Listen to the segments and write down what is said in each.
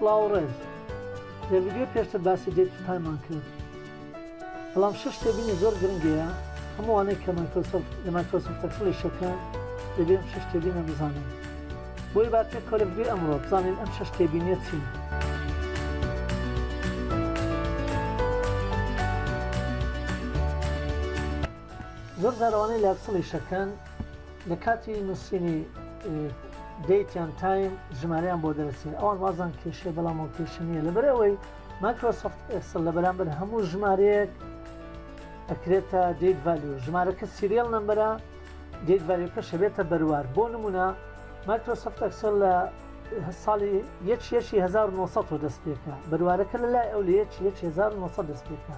سڵاو و ڕێز لە ڤیدیۆی پێشتر باسی دێت تو تایممان کرد بەڵام شش تێبینی زۆر گرنگەیە هەمووانەی کە مایکرۆسۆفت لە مایکرۆسۆفتە کڵیشەکە دەبێ شش تێبینە بزانن بۆیە با پێک کەوە لە ڤیدیۆی ئەمڕۆ بزانین ئەم شەش تێبینیە چین؟ زۆر جار ئەوانەی لاکسڵی شەکەن لە کاتی نووسینی دەیتیان تایم ژماریان بۆ دەرسێن ئەوان وازان کێشێ بەڵام و کێشە نییە لەبەر ئەوەی مایکرۆسفت ئێکسل لە بەرامبەر هەموو ژمارەیەک ئەکرێتە دیت ڤالو ژمارەکە سیریەل نمبەرە گەیتڤەلێکەش هەبێتە بەروار بۆ نمونە مایکرۆسۆفت ئەکسێل لە ساڵی یەکی یەکی 1970 دەست پێکا بەروارەکە لە لای ئەو لە یەکی یەکی 1970 دەست پێکا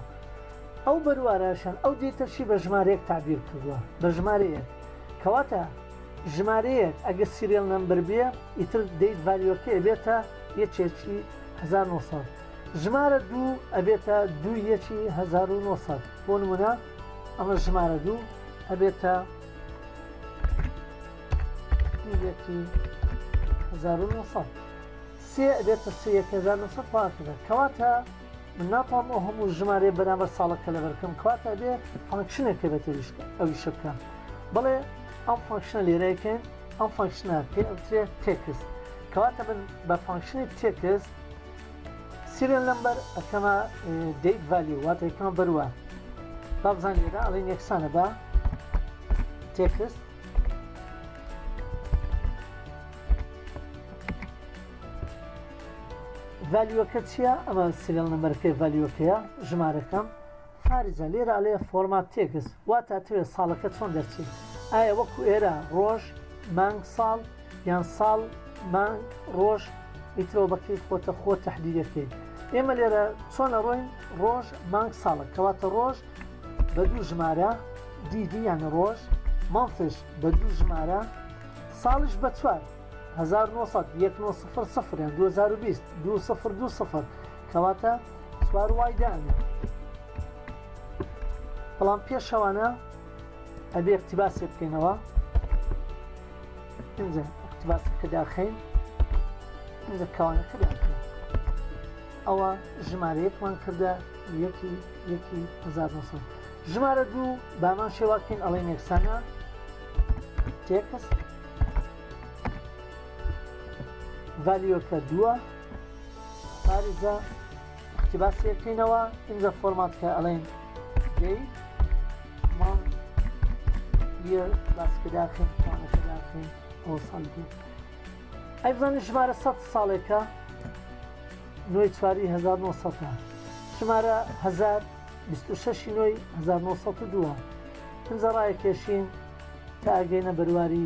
ئەو بەرواراشان ئەو دێتەشی بە ژمارەیەک تعبیر کردووە بە ژمارەیەک کەواتە ژمارەیەک ئەگەر سیریل نمبر بێ ئیتر دەیت ڤالیۆکە ئەبێتە یەکێکی 1970 ژمارە دوو ئەبێتە دوو یەکی 1970 بۆ نمونە ئەمە ژمارە دوو ئەبێتە یەکی هزار و نۆ سەد سێ ئەبێتە سێ یەک هزار نۆ سەد پاکردن کەواتە من ناتوانم ئەو هەموو ژمارەیە بەرامبەر ساڵەکە لەبەر بکەم کەواتە ئەبێ فانکشنێکە بە تێویشت ئەوی شە بکەم بڵێ ئەم فانکشنە لێرەکەن ئەم فانکشنە پێ ئەوترێ تێکست کەواتە من بە فانکشنی تێکست سیرێن لەمبەر ئەکەمە دەیت ڤالی واتە یەکەمە بەروە با بزان لێرە ئەڵین یەکسانە بە تێکست ڤالیوەکە چییە ئەمە سیرێل نمبەر پێ ڤالیوەکەیە ژمارەکەم خارجە، لێرە ئەلێ فۆرمات تێکس وات ئەتەوێ ساڵەکە چۆن دەرچێ؟ ئایا وەکو ئێرە ڕۆژ، مانگ، ساڵ یان ساڵ، مانگ، ڕۆژ ئیترەوە بەکەیف خۆتە خۆت تەحدیدی ئەکەی؟ ئێمە لێرە چۆن ئەڕۆین ڕۆژ، مانگ، ساڵە کەواتە ڕۆژ بە دوو ژمارە DD یانە ڕۆژ، مانثش بە دوو ژمارە ساڵش بە چوار، هەزار و نۆ سەد، یەک نۆ سفر سفر یان دوو هەزار و بیست، دوو سفر دوو سفر، کەواتە چوار وای دانێ بەڵام پێشەوانە ئەبێ اقتباسێ بکەینەوە ئەجا اقتباس کە داخین ئەجا کەوانەکە داخین ئەوە ژمارەیەکمان کردە یەکی یەکی 1900 ژمارە دوو بامان شێواکەین ئەڵێ نێکسانە تێکست ڤالیۆکە دووە پاریزە کتیباسیەکەینەوە ئینجا فۆرمات کە ئەڵێن دی ما یە باسکەداخین توانەکەداخین ئەو ساڵ دی ئەی بزانین ژمارە سە ساڵێکە نوێی چواری 1970 ژمارە 1926 نوێی 1992 ئەجا ڕایەکێشین تا ئەگەینە بەرواری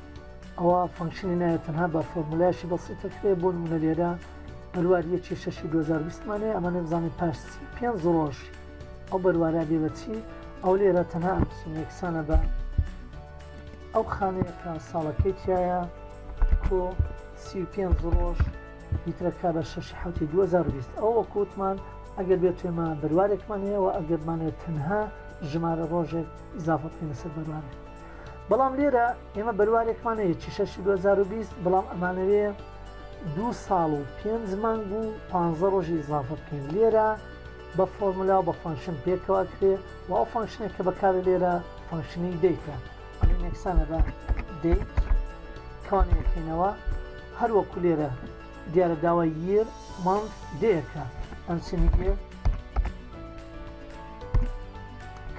ئەوا فەنکشنی نایە تەنها بە فۆرمولایەکی بەسیتە کرێ بۆ نمونە لێرە بەروار یەکی شەشی 2020 مانێ ئەمە نەمزانانی پاش پێنج ڕۆژ ئەو بەروارە بێ بەچی ئەو لێرە تەنها ئەمسیمێکسانە بە ئەو خانەیە کە ساڵەکەی تایە کۆ سی پێنج ڕۆژ لیترەکە بە شش حوتی 2020 ئەو وەکووتمان ئەگەر بێت توێمە بەروارێکمان هەیەەوە ئەگەرمانێت تەنها ژمارە ڕۆژێک زافە پێنەسەر بەروارێت بەڵام لێرە ئێمە بەروارێکمان هەیە چیشەشی 2020 بەڵام ئەمانەوێ دوو ساڵ و پێنج مانگ و پ ڕۆژی ئزافە بکەین لێرە بە فۆرملا و بە فانکشن پێکەوە کرێ و ئەو فانکشنێک کە بەکارە لێرە فانکشنی دیتە ئەڵین یەکسانە بە دیت کانەکەینەوە هەروەکو لێرە دیارە داوای ییر مانگ دەیەکە ئەنسنی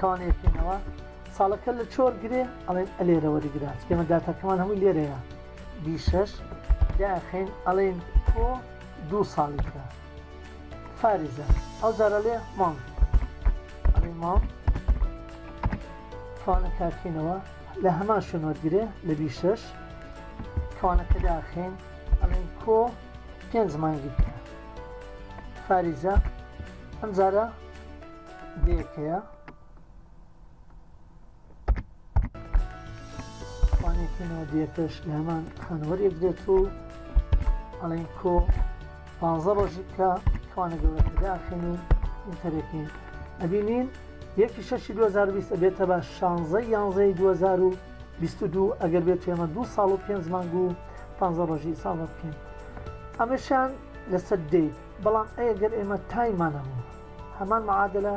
کانەکەینەوە ساڵەکە لە چۆر گرێ ئەڵێن ئەلێرە وەریگرە ئێمە داتاکەمان هەمووی لێرەیە بی شەش داخین ئەڵێن کۆ دوو ساڵی کرا فارزە ئەو جارە لێ مام ئەڵێ مام کەوانە کارکەینەوە لە هەمان شوێن وەرگرێ لە بی شەش کەوانەکە داخین ئەڵێن کۆ پێنج مانگی کرا فارزە ئەم جارە دەیەکەیە پێناودیەکەش لە هەمان خوێنەوەر یەکدێت و ئەڵین کۆ پازە ڕۆژی کە خوانە گەورەکەداخێنی ئینتەرەکەین ئەبینین یەکی شەشی 2020 بێتە بە شانزەی یانزەی 2022 ئەگەر بێت ئێمە دو ساڵ و پێنج مانگ و پ ڕۆژی ساڵ بکەین ئەمەشان لەسەر دەیت بەڵام ئەگەر ئێمە تایمانەمون هەمان معادلە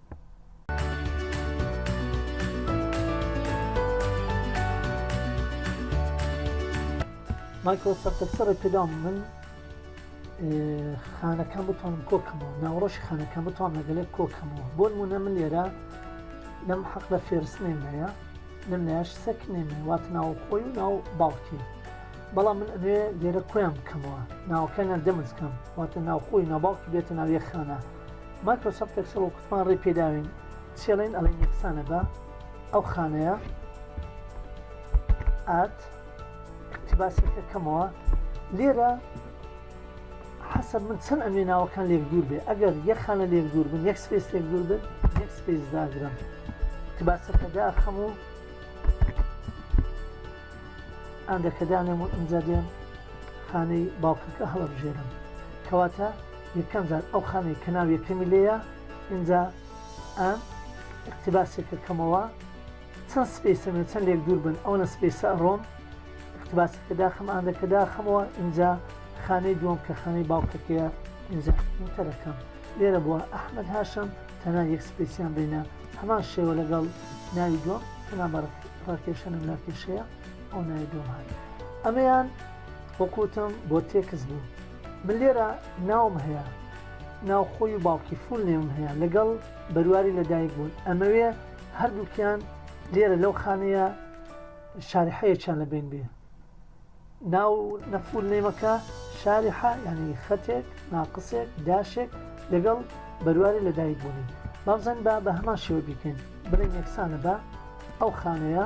مایکرۆ سەفتە سڕی پێدام من خانەکان بتوانم کۆکەمەوە ناوڕۆژی خانەکان بتوان لەگەلێک کۆکەمەوە بۆ نمونە من لێرە لەم حەق لە فێرس نێمەیە لەم لایش سەک نێمێ وات ناو خۆی و ناو باڵکی بەڵام من ئەوێ لێرە کۆیان بکەمەوە ناوکەیان دەمزکەم واتە ناوخۆی ناوباڵکی بێتە ناویە خانە مایکرۆسۆفت ئێکسڵ و کوتمان ڕێ پێداوین چێڵێن ئەڵێن یەکسانە بە ئەو خانەیە ئات اقتباسەکە کەمەوە لێرە حەسە من چەند ئەمێ ناوەکان لێک دوور بێ ئەگەر یە خانە لێک دوور بن یەک سپیس لێک دوور بن یەک سپیس داگرم اقتباسەکە داخەم و ئەندەکەدانێم و ئەمجا دێم خانەی باوکەکە هەڵبژێرم کەواتە یەکەم جار ئەو خانەی کە ناو یەکەمی لێیە ئینجا ئەم اقتباسێکە کەمەوە چەند سپیسە من چەند لێک دوور بن ئەوەنە سپیسە ئەڕۆم اقتباسەکە داخم ئاندەکە داخمەوە ئینجا خانەی دووەم کە خانەی باوکەکەیە ئینجا تەرەکەم لێرە بووە ئەحمد هاشم تەنا یەک سپیسیان بینە هەمان شێوە لەگەڵ ناوی دووەم تەنا بەڕ ڕاکێشەنم لاکێشەیە ئەو ناوی دووەم هات ئەمەیان وەکوتم بۆ تێکس بوو من لێرە ناوم هەیە ناو خۆی و باوکی فول نێوم هەیە لەگەڵ بەرواری لەدایک بوون ئەمەوێ هەردووکیان لێرە لەو خانەیە شاری حەیەچیان لە بین بێ ناو نەفول نێمەکە شاری حا یعنی خەتێک ناقسێک داشێک لەگەڵ بەرواری لەدایک بوونی بابزن با بە هەمان شێوە بیکەین بڵێن یەکسانە بە ئەو خانەیە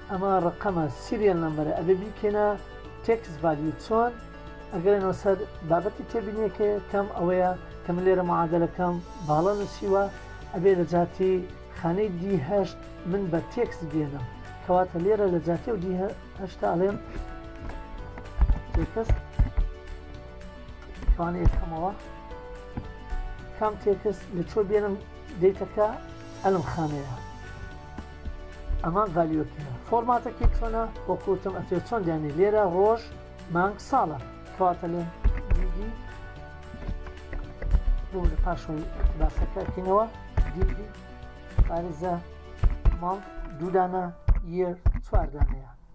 ئەمە ڕەقەمە سیریەل نەمبەرە ئەبێ بیکەنە تێکس ڤالیو چۆن ئەگەرێنەوە سەر بابەتی تێبینیەکە کەم ئەوەیە کە من لێرە معادلەکەم باڵە نووسیوە ئەبێ لە جاتی خانەی دیهشت من بە تێکس بێنم کەواتە لێرە لە جاتی و دیهشتا ئەڵێم تێکست کەوانە یەکەمەوە کام تێکست لە چۆ بێنم دیتەکە ئەلم خانەیە ئەمە ڤالیۆکیە فۆرماتەکەی چۆنە بۆ کوتم ئەتێ چۆن دێنی لێرە ڕۆژ مانگ ساڵە کەواتە لێن دیدی بۆ لە پاشەوەی باسەکەکەینەوە دیدی پارێزە مانگ دوودانە یە چواردانەیە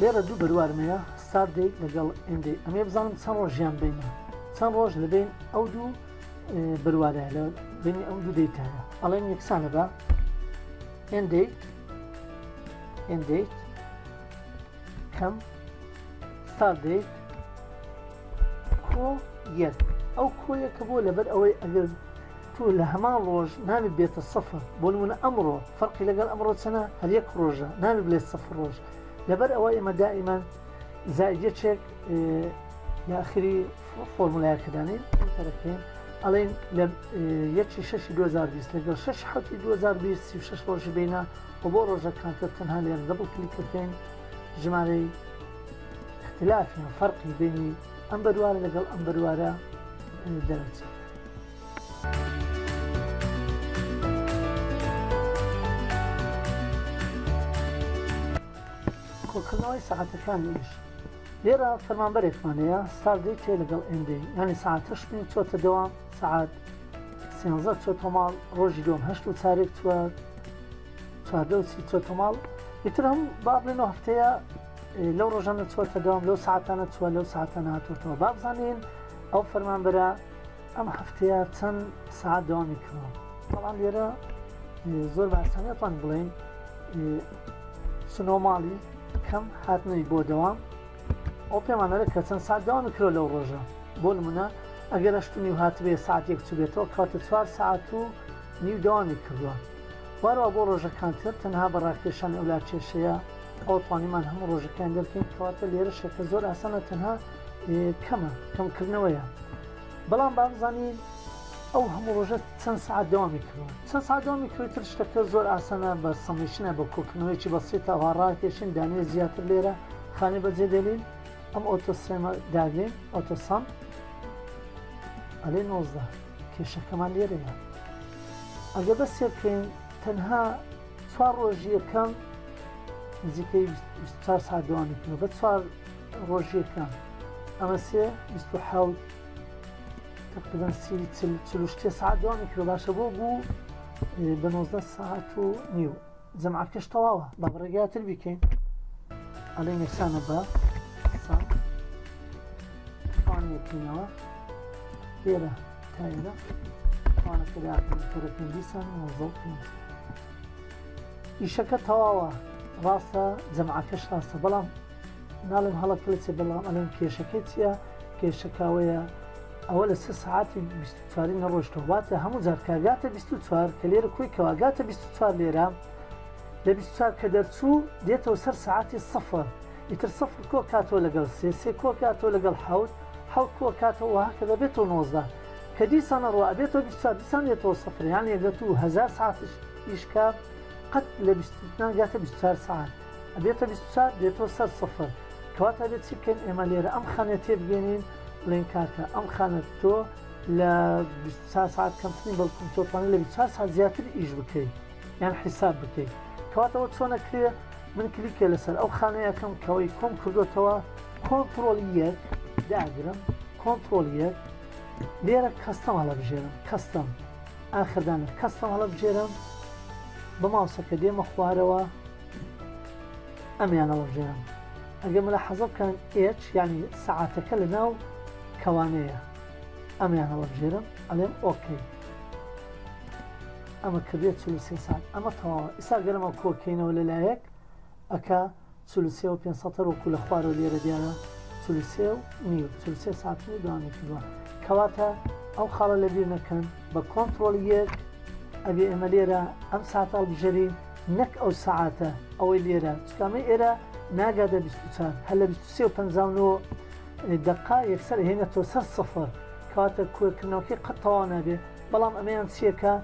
لێرە دوو بەروارم هەیە ستار دەی لەگەڵ ئێندەی ئەمێ بزانم چەند ڕۆژیان بینە چەند ڕۆژ لەبین ئەو دوو بەروارە لە بینی ئەم دوو دەیتایە ئەڵێن یەکسانە بە ئێندەی ئێندەی کەم ستار دەی کۆ یەک ئەو کۆیەکە بۆ لەبەر ئەوەی ئەگەر تۆ لە هەمان ڕۆژ ناوێت بێتە سەفر بۆ نمونە ئەمڕۆ فەرقی لەگەڵ ئەمڕۆ چەنە هەر یەک ڕۆژە ناوێت بلێت سەفر ڕۆژ لەبەر ئەوە ئێمە دائیمەن زایدەچێک لە ئەخری فۆرمولایەکەدانین تەرەکەین ئەڵێن لە یەکی شەشی 2020 لەگەڵ 6 حوتی 2026 ڕۆژی بینە و بۆ ڕۆژە کاتە تەنها لێن دەبڵ کلیکەکەین ژمارەی اختلافیان فەرقی بینی ئەم بەروارە لەگەڵ ئەم بەروارە دەرەچێت کۆکردنەوەی سەعاتەکانی ئیش لێرە فەرمانبەرێکمان هەیە ساردەی تێ لەگەڵ ئێندەی ینی سعات هەشتین چۆتە دەوام سعات سێنزە چۆ تۆماڵ ڕۆژی دۆم هەشت و چارێک چوە چواردە و سی چۆ تۆماڵ ئیتر هەم با بڵێنەوە هەفتەیە لەو ڕۆژانە چۆتە دەوام لەو ساعتانە چوە لەو ساعتانە هاتوتەوە بابزانین ئەو فەرمانبەرە ئەم هەفتەیە چەند سعات دەوامی کردەوە بەڵام لێرە زۆر باسەنێتوان بڵێن سنۆماڵی کەم هاتنەوەی بۆ دەوام ئەو پێمانەرە کە چەند سات دەوامی کرۆ لەو ڕۆژە بۆ نمونە ئەگەر ئەشتنی و هاتبێ ساعتێک چوبێتەوە کاتە چوار ساعت و نیو دەوامی کردووە وارەوە بۆ ڕۆژەکانتر تەنها بە ڕاکێشان ئەولا کێشەیە ئەو توانیمان هەموو ڕۆژەکان دەرکەین کەواتە لێرە شەکە زۆر ئاسانە تەنها کەمە کەمکردنەوەیە بەڵام با بزانین ئەو هەموو ڕۆژە چەند سعات دەوامی کردوە چەند سا دەوامی کردتر شتەکە زۆر ئاسانە بە سەمیشنە بە کۆکردنەوەیکی بە سێت ئەوها ڕاکێشین دانێ زیاتر لێرە خانێ بەجێ دێنین ئەم ئۆتۆسێمە داگرین ئۆتۆسام ئەلێ نۆزدە کێشەکەمان لێرەیە ئەگە بە سێکەین تەنها چوار ڕۆژیەکەم نزیکەی چهار سا دەوامی کردو بە چوار ڕۆژیەکان ئەمە سێ بیست و حەوت تقریبا سی چل چل و شتێ ساعت دوام میکرۆ باشە بۆ بوو بە نۆزدە ساعت و نیو جەماکەش تەواوە بە بڕێگاتر بیکەین ئەلێ یەکسانە بە ساعت توانیەکەینەوە لێرە تا ئێرە توانەکە داکەین کەرە پێنجی سان نۆزە پێنج ئیشەکە تەواوە ڕاستە جەماکەش ڕاستە بەڵام ناڵێم هەڵە کلچە بەڵام ئەڵێم کێشەکەی چییە کێشە کاوەیە ئەوە لە سە سعاتی چواری نەڕۆشتە واتە هەموو جار کاگاتە 24 کە لێرە کۆی کەواگاتە 24 لێرە لە 24 کە دەرچوو دێتەوە سەر سعاتی سەفر ئیتر سەفر کۆ کاتۆ لەگەڵ سێ سێ کۆ کاتۆ لەگەڵ حوت حوت کۆ کاتەوە کە دەبێتەوە نۆزدە کە دیسان ڕوا ئەبێتەوە 24 دیسان دێتەوە سەفریان یەگەت و هزار سعاتش ئیشکە قەت لە 24 گاتە 24 سعات ئەبێتە بیست و چوار دێتۆ سەر سفر کەواتە ئەبێت چی بکەین ئێمە لێرە ئەم خانەیە تێبگەێنین بڵێن کاکە ئەم خانە تۆ لە بیست و چوار ساعت کەمترین بەڵکم تۆ توانێت لە بیست و چوار ساعت زیاتر ئیش بکەیت یان حیساب بکەیت کەواتەوە چۆنە کرێ من کلیکێ لەسەر ئەو خانەیەکەم کەوەی کۆم کردوتەوە کۆنتترۆل یەک داگرم کۆنتترۆل یەک لێرە کەستەم هەڵەبژێرم کەستەم ئاخردا لە کەستەم هەڵەبژێرم بە ماوسەکە دێمە خوارەوە ئەمیان هەڵەبژێرم ئەگەر مەلا حەزە بکەن ئێچ ینی سەعاتەکە لە ناو کەوانەیە ئەمیان هەڵەبژێرم ئەلێم ئۆکەی ئەمە کردێت چ سێ ساعت ئەمە تەواوە ئیسا گەرمە کۆکەینەوە لەلایەک ئەکا چل و سێ و پێنج سەتەر وەکو لە خوارەوە لێرە دیارە چل و سێ و نیو چل و سێ ساتن و دوامی کردووە کەواتە ئەو خاڵە لە بیر نەکەن بە کۆنتترۆل یەک ئەبێ ئێمە لێرە ئەم ساعت هەڵبژەرین نەک ئەو سعاتە ئەوەی لێرە چکامە ئێرە ناگادە 24 هە لە 25 دقا یەکسەر هێنە تۆ سەر سفر کاتە کوێکردنەوەکەی قەت تەوا نابێت بەڵام ئەمەیان چیە کە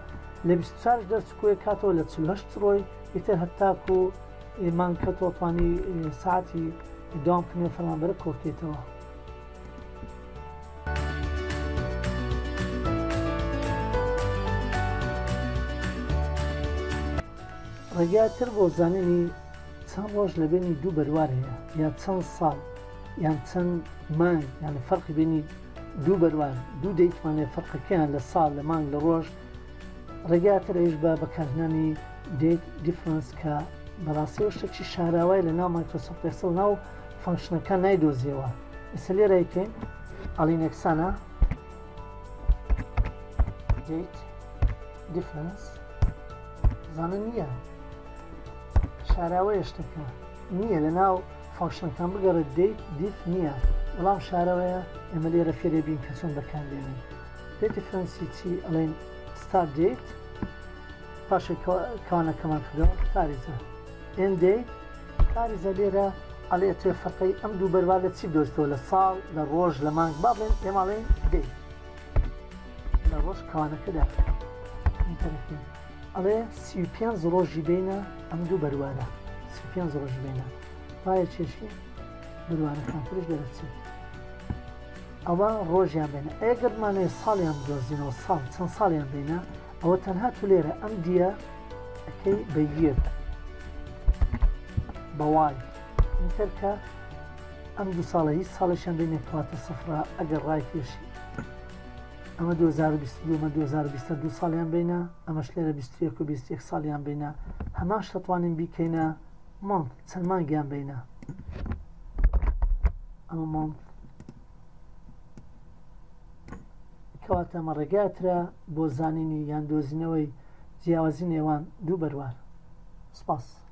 لە بیست و چار ش دەرچ کۆیەک کاتەوە لە چل و هەشت ڕۆی ئیتر هەتاکو مانگ کەوتەوە توانی سەعاتی دەوام کردنی ئەو فەرمانبەرە کۆبکەیتەوە. ڕێگای تر بۆ زانینی چەند ڕۆژ لە بینی دوو بەروار هەیە یان چەند ساڵ یان چەند مانگ یان فەرقی بینی دوو بەروار دوو دەیتوانێ فەرقەکەیان لە ساڵ لە مانگ لە ڕۆژ ڕێگاتر ئەوش بە بەکارهنانی دێت دیفرنس کە بەڕاستەوە شتێکی شاراوای لە ناو مایکرۆسۆف پێسەڵ ناو فانکشنەکە نایدۆزیەوە ئسە لێرەکەین ئەڵین یەکسانە دێت دیفرنس زانە نییە شاراوەیە شتەکە نییە لە ناو فانکشنەکان بگەڕێ دێیت دیف نییە بەڵام شارەوەیە ئێمە لێرە فێرێ بین کە چۆن بەکار دێنین پێ دیفرەنسی چی ئەڵێن ستار دێیت پاشێک کانەکەمان کردەوە پاریزە ئێن دێیت پاریزە لێرە ئەڵێ تێ فەقەی ئەم دوو بەروا لە چی دۆستەوە لە ساڵ لە ڕۆژ لە مانگ با بڵێن ئێماڵێن دێیت لە ڕۆژ کانەکەدا ئەڵێ سی و پێنج ڕۆژی بینە ئەم دوو بەروارە سی و پێنج ڕۆژ بینە پایە چێشی بەروارەکان ترش دەرەچێت ئەوە ڕۆژیان بێنە ئەگەرمانێ ساڵیان دۆزینەوە ساڵ چەند ساڵیان بینە ئەوە تەنها تو لێرە ئەم دیە ئەەکەی بەگیر بەوان تەرکە ئەم دو ساڵە هیچ ساڵێکیان بینێت تواتە سەفرا ئەگەر ڕای کێشی ئەمە دوو هەزار و بیست و دوو مە دوو هەزار و بیست و دوو ساڵیان بینە ئەمەش لێرە بیست و یەک و بیست و یەک ساڵیان بینە هەماش دەتوانین بیکەینە مانگ چەند مانگیان بینە ئەمە مانگ کەواتە ئەمە ڕێگاترە بۆ زانینی یان دۆزینەوەی جیاوازی نێوان دوو بەروار سپاس